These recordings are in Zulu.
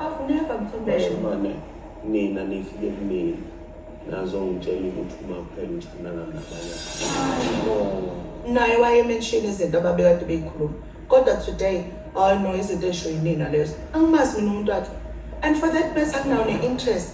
Afuneka mthombele. Manje nina nifike kumina nazongitshela ukuthi uma kuphela uthandana nabanye naye wayemenshini izinto ababekade beyikhuluma kodwa today hayi no izinto esho yinina lezo angimazi mina umuntu wakhe and for that matter akunawo ne-interest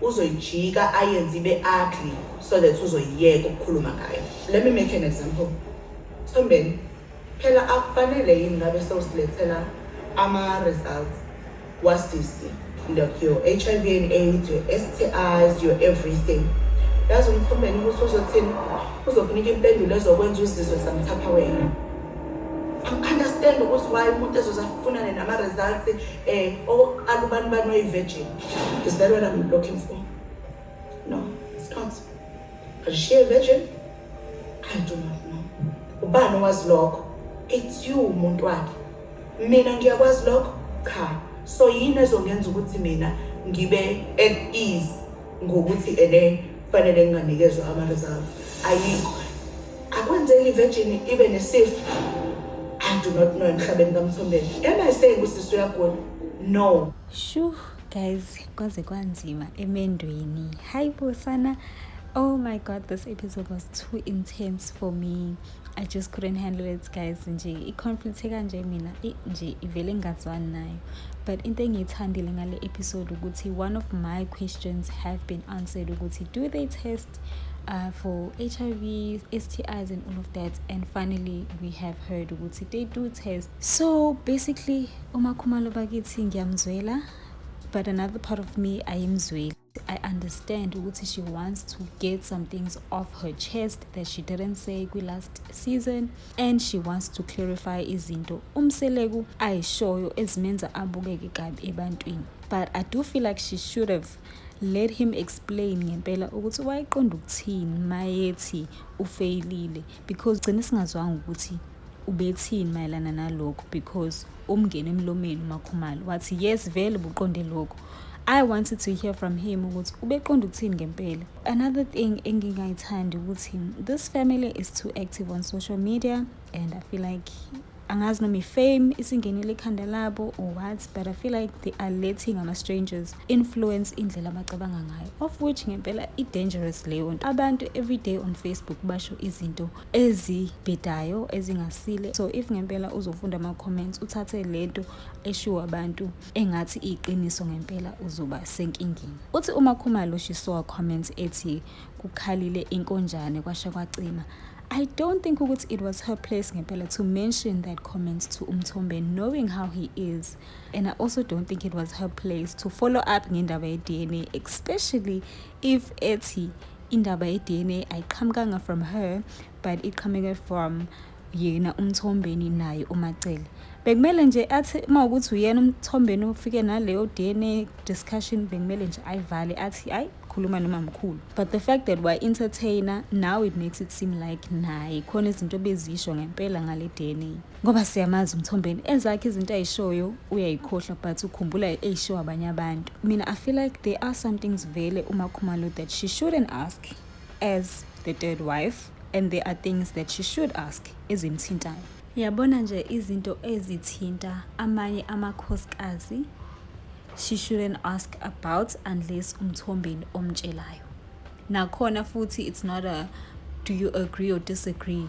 uzoyijika ayenze ibe ugly so that uzoyiyeka ukukhuluma ngayo let me make an example sombeni phela akufanele yini ngabe sewusilethela ama-results wasisi like your h i v and aids your s t is your everything yazi umkhombeni ukuthi uzothini uzokunika impendulo ezokwenza uzizwe samthapha wena angiunderstand ukuthi why umuntu ezoze afunane nama-results um okokuqala ubani bani oyi-virgin Is that what I'm looking for? No, it's not. But is she a virgin? I do not know. Ubani was lokho? It's you umuntu wakhe. Mina ngiyakwazi lokho? Cha. So yini ezongenza ukuthi mina ngibe at ease ngokuthi ene fanele nginganikezwa ama-reserve ayikho akwenzeki i-virgin ibe nesifo i do not know emhlabeni kamthombeni am i saying usisi uyagula no Shu guys kwaze kwanzima emendweni hayi bo sana oh my god this episode was too intense for me i just couldn't handle it guys nje i-conflict ekanje mina nje ivele ngingazwani nayo but into engiyithandile ngale episode ukuthi one of my questions have been answered ukuthi do they test uh, for hiv stis and all of that and finally we have heard ukuthi they do test So basically uMakhumalo bakithi ngiyamzwela but another part of me ayimzweli. I understand ukuthi she wants to get some things off her chest that she didn't say kwi last season and she wants to clarify izinto umseleku ayishoyo ezimenza abukeke kabi ebantwini. But I do feel like she should have let him explain ngempela ukuthi wayeqonda ukuthini mayethi ufeyilile because gcine singazwanga ukuthi Ubethini mayelana nalokhu because umngene emlomeni uMakhumalo wathi yes vele buqonde lokhu I wanted to hear from him ukuthi ubeqonda ukuthini ngempela. Another thing engingayithandi ukuthi this family is too active on social media and I feel like angazi noma ifame isingenile ikhanda labo or what but i feel like they are letting ama-strangers influence indlela abacabanga ngayo of which ngempela i-dangerous leyo nto abantu every day on facebook basho izinto ezibhedayo ezingasile so if ngempela uzofunda ama-comments uthathe lento eshiwo abantu engathi iyiqiniso ngempela uzoba senkingeni uthi uma khumalo she saw a comment ethi kukhalile inkonjane kwasha kwacima I don't think ukuthi it was her place ngempela to mention that comment to Umthombe knowing how he is and I also don't think it was her place to follow up ngendaba ye-DNA especially if ethi indaba ye-dna ayiqhamukanga from her but iqhamuke from yena umthombeni naye umacele bekumele nje athi uma ukuthi uyena umthombeni ufike naleyo dna discussion bekumele nje ayivale athi ayi khuluma noma mkhulu but the fact that wa entertainer now it makes it seem like naye khona izinto bezisho ngempela ngale dna ngoba siyamazi umthombeni ezakhe izinto ayishoyo uyayikhohlwa but ukhumbula eyishow abanye abantu mina i feel like there are some things vele umakhumalo that she shouldn't ask as the third wife and there are things that she should ask ezimthintayo yabona nje izinto ezithinta amanye amakhosikazi she shouldn't ask about unless umthombeni omtshelayo nakhona futhi it's not a do you agree or disagree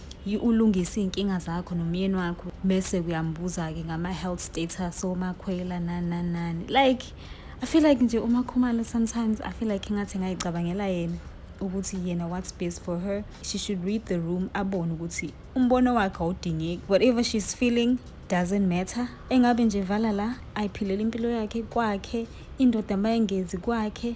ulungise iy'nkinga zakho nomyeni wakho bese uyambuza-ke ngama-health status omakhwela nani nani nani like i feel like nje umakhumalo sometimes i feel like ingathi ngayicabangela yena ukuthi yena what's best for her she should read the room abone ukuthi umbono wakhe awudingeki whatever she's feeling doesn't matter engabe nje vala la ayiphilele impilo yakhe kwakhe indoda mayengenzi kwakhe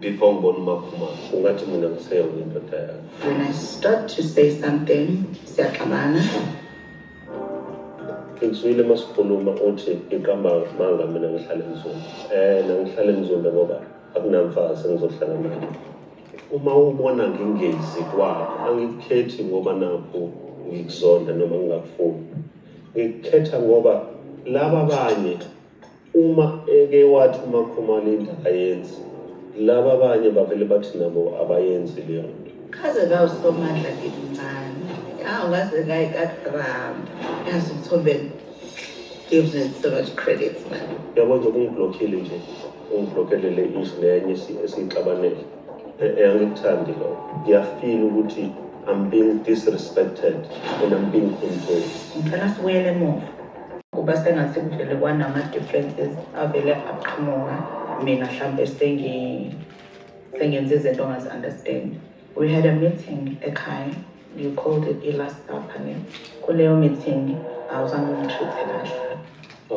before ngibona umakhumalo ungathi mina ngiseyona indoda yakho when i start to say something siyaxabana ngizwile uma sikhuluma uthi iqamba manga mina ngihlale emzumbe eh nangihlale emzumbe ngoba akunamfazi engizohlala naye uma ubona ngingezi kwakho angikukhethi ngoba nakho ngikuzonda noma ngingakufuni ngikukhetha ngoba laba abanye Uma eke wathi uMakhumalo into ayenzi, laba abanye bavele bathi nabo abayenzi leyo nto. Kaze kawusomandla ngimncane. Hawu ngaze ngaye kaDram. Yazi umthombe gives me so much credit man. Yabo nje kungiblockile nje. Ungiblockele le issue nenye esiyixabanele. Angikuthandi lokho. Ngiyafeel ukuthi I'm being disrespected and I'm being controlled. Ngicela sibuyele emuva. kuba sengathi kuvele kwanama-differences avele aqhamuka mina hlampe sengenza izinto ongazi-understand we had a meeting ekhaya you called it i-last supper ne kuleyo meeting awuzange ungitreat-e kahle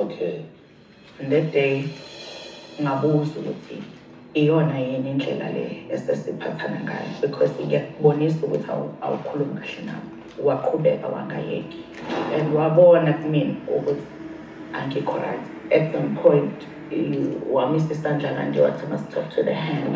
okay And that day ngabuza ukuthi iyona yini indlela le esesiphathana ngayo because ngiyakubonisa ukuthi awukhulumi kahle nami waqhubeka wangayeki and wabona kumina ukuthi angikho right at some point wamisa isandla kanje wathi must talk to the hand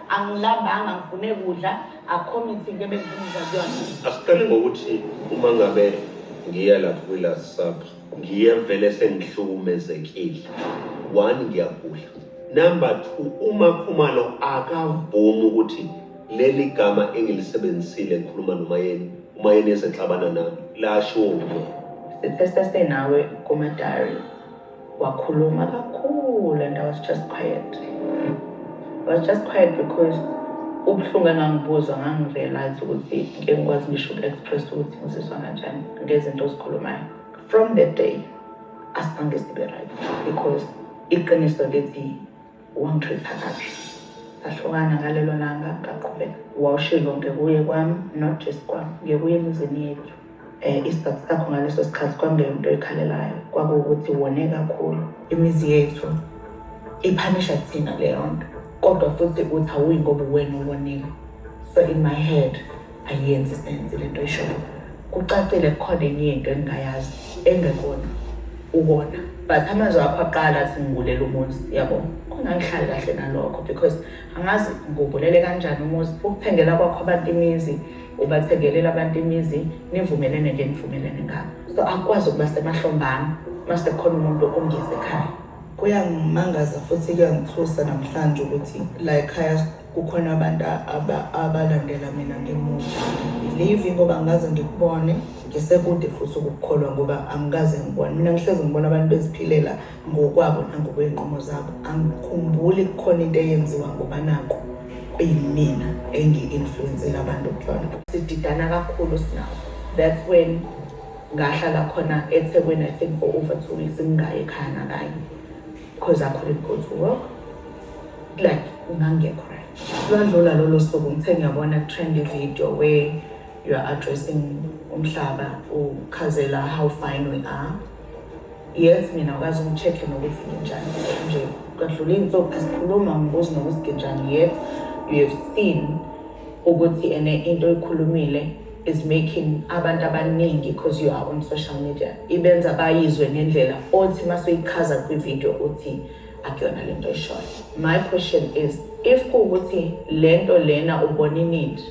Angilambanga ngifune kudla akho mithi into ebengibuza kuyona. Asiqale ngokuthi uma ngabe ngiya lapho kwi-last supper ngiye vele sengihlukumezekile. One ngiyagula. Number two uMakhumalo akavumi ukuthi leli gama engilisebenzisile ngikhuluma nomayeni umayeni ezexabana nami lashiwo nguyena. Sithesese nawe kuma-diary. wakhuluma kakhulu and i was just quiet i was just quiet because ubuhlungu engangibuzwa ngangirealize ukuthi ngeke ngikwazi ngisho uku-express ukuthi ngizizwa kanjani ngezinto ozikhulumayo from that day asibhange sibe right because iqiniso lithi Wangithetha kabi. Sahlukana ngalelo langa ngaqhubeka. Wawushiye konke kuye kwami, not just kwami, ngiye kuye emizini yethu. Um isizathu sakho ngaleso sikhathi kwakungeyona into oyikhalelayo, kwakuwukuthi wone kakhulu. Imizi yethu iphanisha thina leyo nto, kodwa futhi uthi awuyi ngoba uwena owonile. So in my head ayenzi senze lento ishoyo kucacile kukhona enye into engingayazi engekona ukona but amazwi akho aqala athi ngibulele umuzi yabo khona ngihlale kahle nalokho because angazi ngubulele kanjani umuzi ukuthengela kwakho abantu imizi ubathekelela abantu imizi nivumelene nje nivumelene ngabo so akwazi ukuba semahlombana mase khona umuntu ongeze ekhaya kuyangimangaza futhi kuyangithusa namhlanje ukuthi la ekhaya kukhona abantu abalandela mina ngemuva livi ngoba ngaze ngikubone ngisekude futhi ukukholwa ngoba angikaze ngibone mina ngihlezi ngibona abantu beziphilela ngokwabo nangokwey'nqumo zabo angikhumbuli kukhona into eyenziwa ngoba nako kuyimina engi-influensela abantu kuyona sididana kakhulu sinawo that's when ngahlala khona ethekwini i think for over two weeks ngingayi ekhaya nakanye because I couldn't go to work like ngangekho right lwadlula lolo suku ngithe ngiyabona kutrend ivideo where you are addressing umhlaba ukhazela how fine we are yes mina ukazi ungicheck-e nokuthi nginjani nje kwadlula iy'nsuku asikhuluma ngibuzi nokuthi nginjani yet you have seen ukuthi ene into oyikhulumile is making abantu abaningi because you are on social media ibenza bayizwe ngendlela othi masuyichaza kwivideo uthi akuyona le nto eshoyo my question is if kuwukuthi le nto lena ubona inindi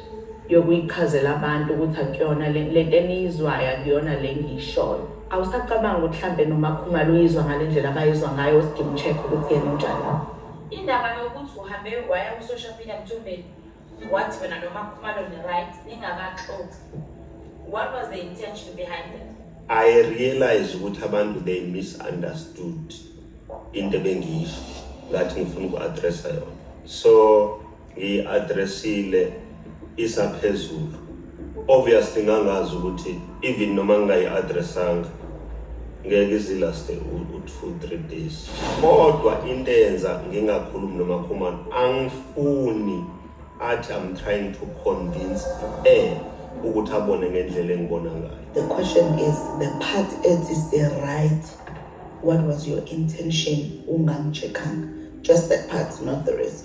yokuyichazela abantu ukuthi akuyona le nto eniyizwayo akuyona le ngiyishoyo awusacabanga ukuthi mhlawumbe nomakhumalo uyizwa ngale ndlela abayizwa ngayo usidinga ucheck ukuthi yena unjani indaba yokuthi uhambe waya ku-social media mthombeni What wena noma khumalo ni right ningakaxoxi. What was the intention behind it? I realize ukuthi abantu they misunderstood into ebengiyisho ngathi ngifuna uku-addressa yona. So ngiyi-addressile isaphezulu. Obviously ngangazi ukuthi even noma ngingayi-addressanga ngeke izilaste u-two three days kodwa into eyenza ngingakhulumi nomakhumana angifuni athi i'm trying to convince e ukuthi abone ngendlela engibona ngayo the question is the part ethi the right what was your intention ungamchekhanga just that part not the rest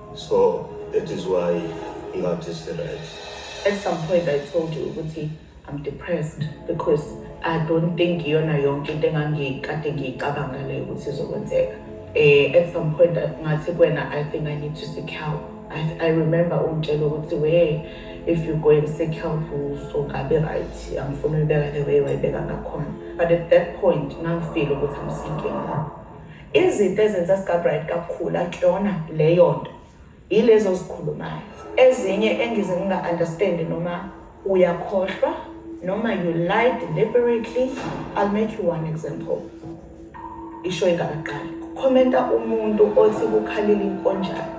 So that is why ngathi siright. At some point I told you ukuthi I'm depressed because I don't think iyona yonke into engangikade ngiyicabanga leyo ukuthi izokwenzeka. Eh at some point ngathi kwena I think I need to seek help. I, I remember ungitshela ukuthi we if you go and seek help uzokabe right angifuni uyibeka the way wayibeka ngakhona but at that point ngangifile ukuthi I'm seeking Izinto ezenza sikaBright kakhulu akuyona leyo nto yilezo zikhulumayo ezinye engize nginga-understand noma uyakhohlwa noma you lie deliberately i'll make you one example isho ingakaqali kukhomenta umuntu othi kukhalile inkonjane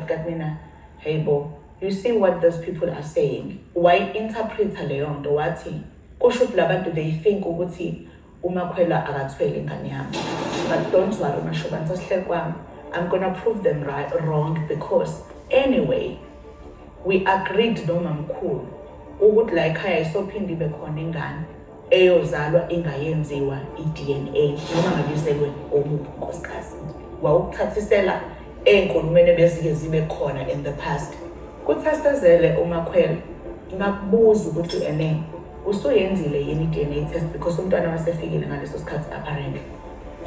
got mina hey bo you see what those people are saying why interpreter leyo nto wathi kusho ukuthi labantu they think ukuthi umakhwela akathwele ingane yami but don't worry mashobani sasihleli kwami i'm gonna prove them right, wrong because anyway we agreed nomamkhulu ukuthi la ekhaya isophinde ibe khona ingane eyozalwa ingayenziwa i-dna noma ngabizelwe omuphi unkosikazi wawukuthathisela ey'nkulumeni ebezike zibe khona in the past kuthasezele umakhwela ngakubuza ukuthi ene Usuyenzile yini i-DNA test because umntwana wasefikile ngaleso sikhathi apparently.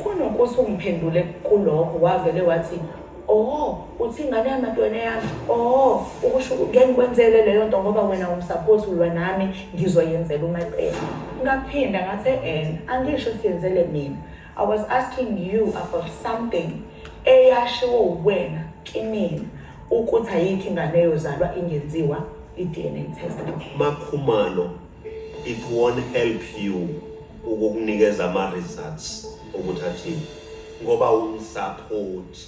Kunokuthi ungiphendule kulokho wavele wathi oh uthi ingane yamadwena yami oh ukusho ngeke ngikwenzele leyo nto ngoba wena umsapoti ulwa nami ngizoyenzela umacela ngaphinda ngathi en angisho siyenzele mina I was asking you about something eyashiwo uwena kinina ukuthi ayikho ingane yozalwa ingenziwa i-DNA test. Makhumalo, it won't help you ukukunikeza ama-results ukuthi athini ngoba umsaphothi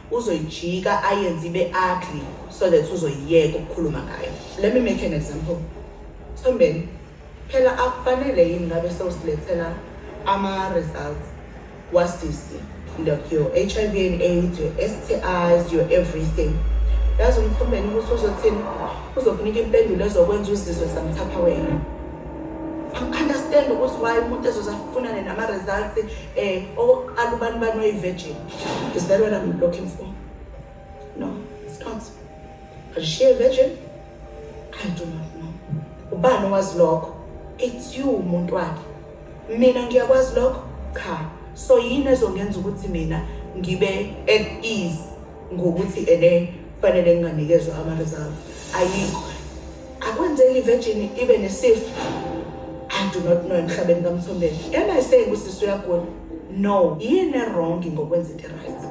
uzoyijika ayenze ibe ugly so that uzoyiyeka ukukhuluma ngayo let me make an example sombeni phela akufanele yini ngabe sewusilethela ama-results wasisi like your h i v and aids your s t is your everything yazi umkhombeni ukuthi uzothini uzokunika impendulo ezokwenza uzizwe samthapha wena angiunderstand ukuthi why umuntu ezozafunane nama-results um okokuqala ubani bani oyi-virgin Is that what I'm looking for? No, it's not. But is she a virgin? I do not know. Ubani was lokho? It's you umuntu wakhe. Mina ngiyakwazi lokho? Cha. So yini ezongenza ukuthi mina ngibe at ease ngokuthi ene fanele nginganikezwa ama-reserve ayikho akwenzeki ivirgin ibe nesifo i do not know emhlabeni kamthombeni am i saying usisi uyagula no yini ewrong ngokwenza into right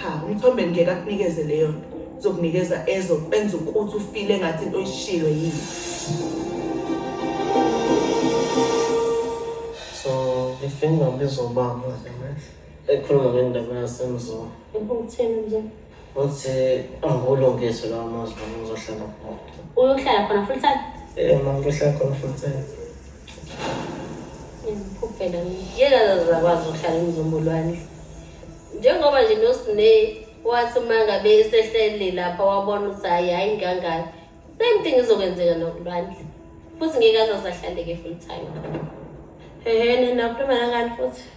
cha umthombeni ngeke akunikeze leyo nto zokunikeza ezo kwenza ukuthi ufile ngathi into oyishilo yini so ifinga lizoba manje ekhuluma ngendaba yasemzulu ubuthini nje Uthe angulungise lawo mazwi noma uzohlala khona. Uyohlala khona full time? Eh, mama uyohlala khona full time. Ngikupela ngiyeka zakwazi ukuhlala emzombolwane. Njengoba nje noSne wathi uma ngabe esehlele lapha wabona ukuthi hayi hayi ngangani. Same thing izokwenzeka nokulwandle. Futhi ngeke azasahlale ke full time. Hehe, nina ukhuluma nangani futhi?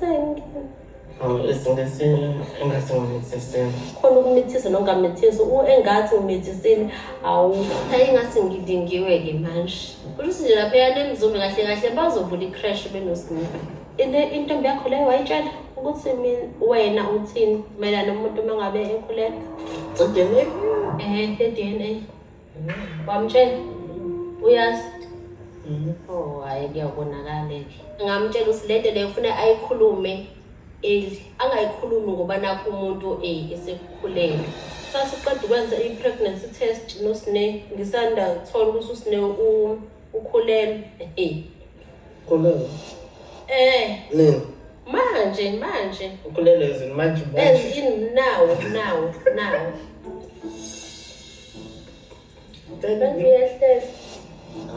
Thank you. Oh, izinto engasingamithisiwe. Khona ukumithisa nongamithisa engathi umithisile awu. Hayi ingathi ngidingiwe-ke manje. Kusho ukuthi nje lapha eyane emzumbe kahle kahle bazovula i-crash benosinga. Intombi yakho leyo wayitshela ukuthi wena uthini mayelana nomuntu uma ngabe ekhulelwe? Udinile. Ehhe, edinile. wamtshela uyazi oh hayi kuyabonakala ngamtshela ukuthi lento leyo funa ayikhulume eli angayikhulumi ngoba nakho umuntu eh, esekukhulele sasiqeda ukwenza i-pregnancy test nosine ngisanda thola ukuthi usine ukhulelwe eh. ukhulelwe eh nini manje manje ukhulelwe ezini manje manje nawo nawo nawo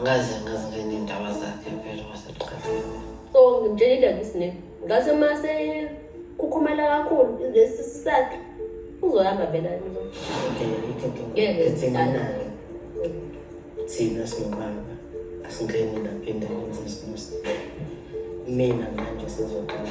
ngaze ngaze ngenindaba zakhe vele waseqaleni so ngimtshela indaba isine ngase mase kukhumela kakhulu lesi sakhe uzohamba vela thina singubaba asingeni lapha endaweni zesinus mina manje sizoqala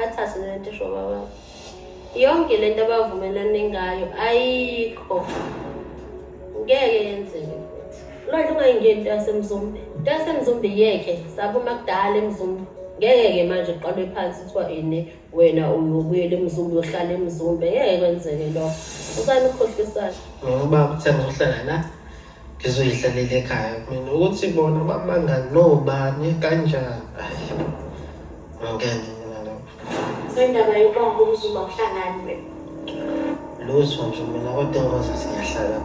athathe lento esho baba yonke lento abavumelane ngayo ayikho ngeke yenzeke lwandle ungayingeni into yasemzumbe into yasemzumbe yeke saphuma kudala emzumbe ngeke-ke manje uqalwe phansi kuthiwa ini wena uyobuyela emzumbe uyohlala emzumbe ngeke kwenzeke lokho usani ukhohlisana ngoba kuthenga uhlala la ngizoyidlalela ekhaya mina ukuthi bona bamanga nobani kanjani ngeke sendaba yobamba umzuma uhlangani wena lutho nje mina kodwa engozi siyahlala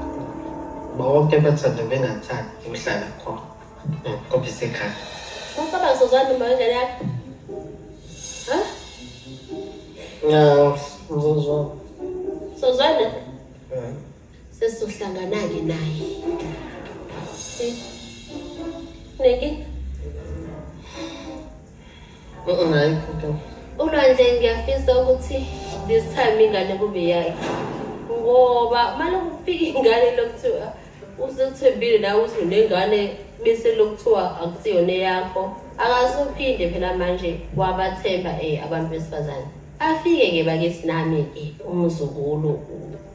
bonke bathanda bengathandi ukuhlala khona ngoba isekhaya Mkaba sozani manje lapha. Ha? Na, ngizozwa. Sozana? Eh. Sesizohlangana-ke naye. Neke. Hayi, kodwa. Ulwandle ngiyafisa ukuthi this time ingane kube yakhe. Ngoba manje kufika ingane lokuthiwa usethembile nawe uthi unengane bese lokuthiwa akusiyona eyakho. Akasophinde phela manje wabathemba eh abantu besifazane. Afike-ke bakithi nami-ke umzukulu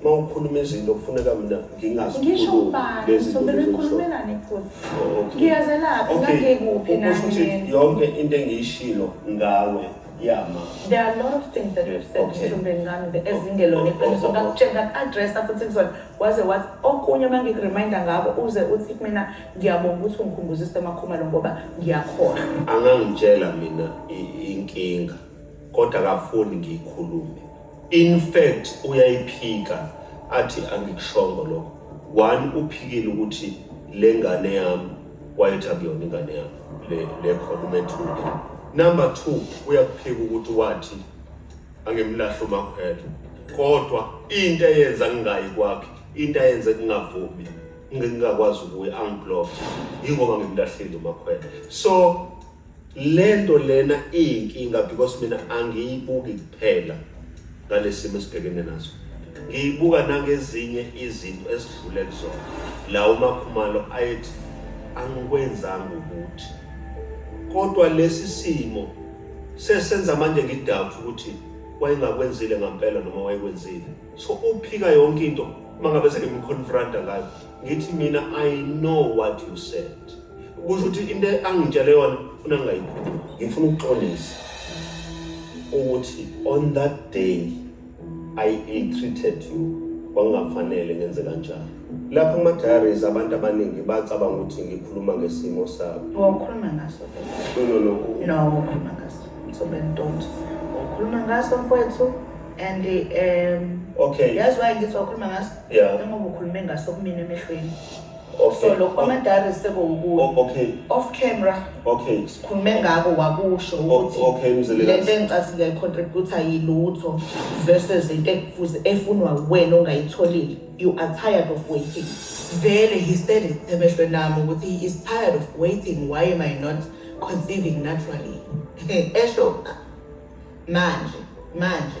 Uma ukhuluma izinto kufuneka mina ngingazi Ngisho ubani, lezi zinto ngizobele lezo kuhloko. ngikhulumelane futhi. Oh, okay. Ngiyazelaphi, Okay. ngangikuphi Kusho nami ukuthi mina. yonke into engiyishilo ngawe yama. There are a lot of things that we've said Okay. mhlawumbe ngami the- ezingelona iqiniso ngakutshela ngaku-addressa futhi kuzona waze wathi okunye uma ngikureminda ngako uze uthi kumina ngiyabonga ukuthi ungikhumbuzise emakhumalo ngoba ngiyakhona Angangitshela mina i- inkinga kodwa akafuni ngiyikhulume. in fact uyayiphika athi angikushongo lokho one uphikile ukuthi le ngane yami wayethi akuyona ingane yami le le khona umethule number 2 uyakuphika ukuthi wathi angimlahle umakhwela kodwa into eyenza ngingayi kwakhe into ayenze kungavumi ngingakwazi ukuya angiblock yingoba ngimlahlile umakhwela so lento lena iyinkinga because mina angiyibuki kuphela ngalesimo esibhekene naso ngiyibuka nangezinye izinto esidlule kuzona la umakhumalo ayethi angikwenzanga ukuthi kodwa lesi simo sesenza manje ngidoubt ukuthi wayengakwenzile ngampela noma wayekwenzile so uphika yonke into uma ngabe sengimconfronta ngayo ngithi mina i know what you said kusho ukuthi into angitshele yona funa ngingayikhuluma ngifuna ukuxolisa ukuthi on that day i ill treated you kwakungafanele ngenze kanjalo lapho kuma-diaries abantu abaningi bacabanga ukuthi ngikhuluma ngesimo sabo wawukhuluma ngaso no no no no wawukhuluma ngaso so bentonto wawukhuluma ngaso mfowethu and um okay yazi waye ngithi wakhuluma ngaso Yeah. Njengoba ukhulume ngaso kumina emehlweni. Okay. So lokho amadari sekuwukuyo. O- Okay. Off camera Okay. sikhulume ngako wakusho O- ukuthi okay, Mzilikazi. le nto engicasile icontributor yilutho versus into ekufuze efunwa wena ongayitholile. You are tired of waiting. Vele he said it emehlweni ami ukuthi he is tired of waiting. Why am I not conceiving naturally? Esho manje manje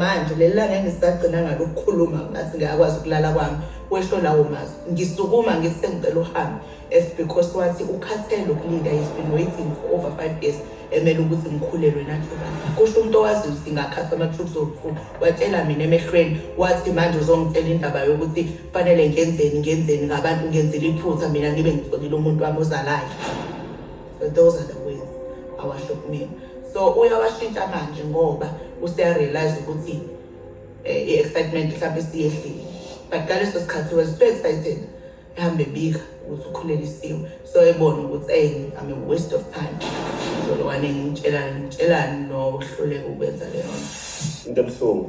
manje leli langa engisagcina ngalo ukukhuluma ngathi ngiyakwazi ukulala kwami wesho lawo mazwi ngisukuma ngithi sengicela uhambe as because wathi ukhathele ukulinda he's been waiting for over five years emele ukuthi ngikhulelwe nathuba kusho umuntu owaziyo ukuthi ngakhatha ama-troops okukhulu watshela mina emehlweni wathi manje uzongitshela indaba yokuthi kufanele ngenzeni ngenzeni ngabantu ngenzela iphutha mina ngibe ngitholile umuntu wami ozalayo for those are the ways awahlukumile so uyawashintsha manje ngoba useyarealize ukuthi eh, i-excitement mhlawumbe isiyehlile but ngaleso sikhathi was so excited ehambe bika ukuthi ukhulelisiwe so ebona ukuthi eyi I'm a waste of time zolwane ngitshelani ngitshelani nokuhluleka ukwenza leyo nto into ebuhlungu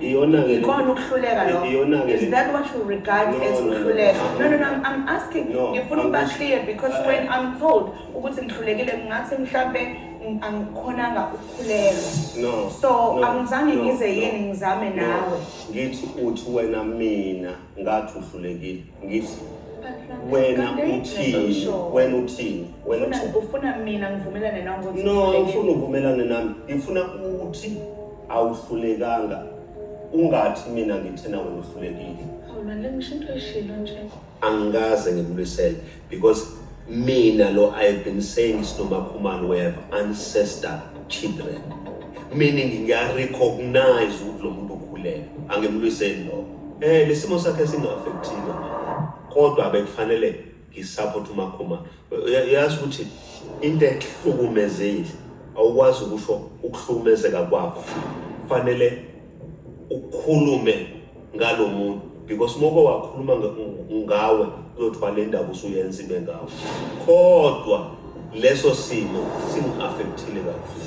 Iyona-ke Ikona ukuhluleka lokho. Iyona-ke Is that what you regard No, as no, no. ukuhluleka? No, no, no, I'm, I'm asking. No, Ngifuna I'm ukuba asking. clear because Uh, when I'm told ukuthi ngihlulekile ngingathi mhlampe ng- angikhonanga ukukhulelwa. no So no, angizange no, ngize no, yini ngizame no. nawe. ngithi uthi wena mina ngathi uhlulekile ngithi wena uthini wena uthini wena uthini ufuna mina ngivumelane nawe ukuthi no ufuna uvumelane nami ngifuna ukuthi awuhlulekanga ungathi mina ngithina wena uhlulekile awuna lengisho into eshilo nje angikaze ngibulwisele because mina lo i've been saying isinomakhumalo we have ancestor children meaning ngiyarecognize ukuthi lo muntu ukhulele angimlwiseli lokho um lesimo sakhe singa-affecthile kodwa bekufanele ngisaphote umakhuma yazi ukuthi into ehlukumezile awukwazi ukusho ukuhlukumezeka kwakho kufanele ukhulume ngalo muntu because uma uke wakhuluma ngawe kuyothwala indaba usuyenza ibe ngawe kodwa leso simo simu-affektile kakhulu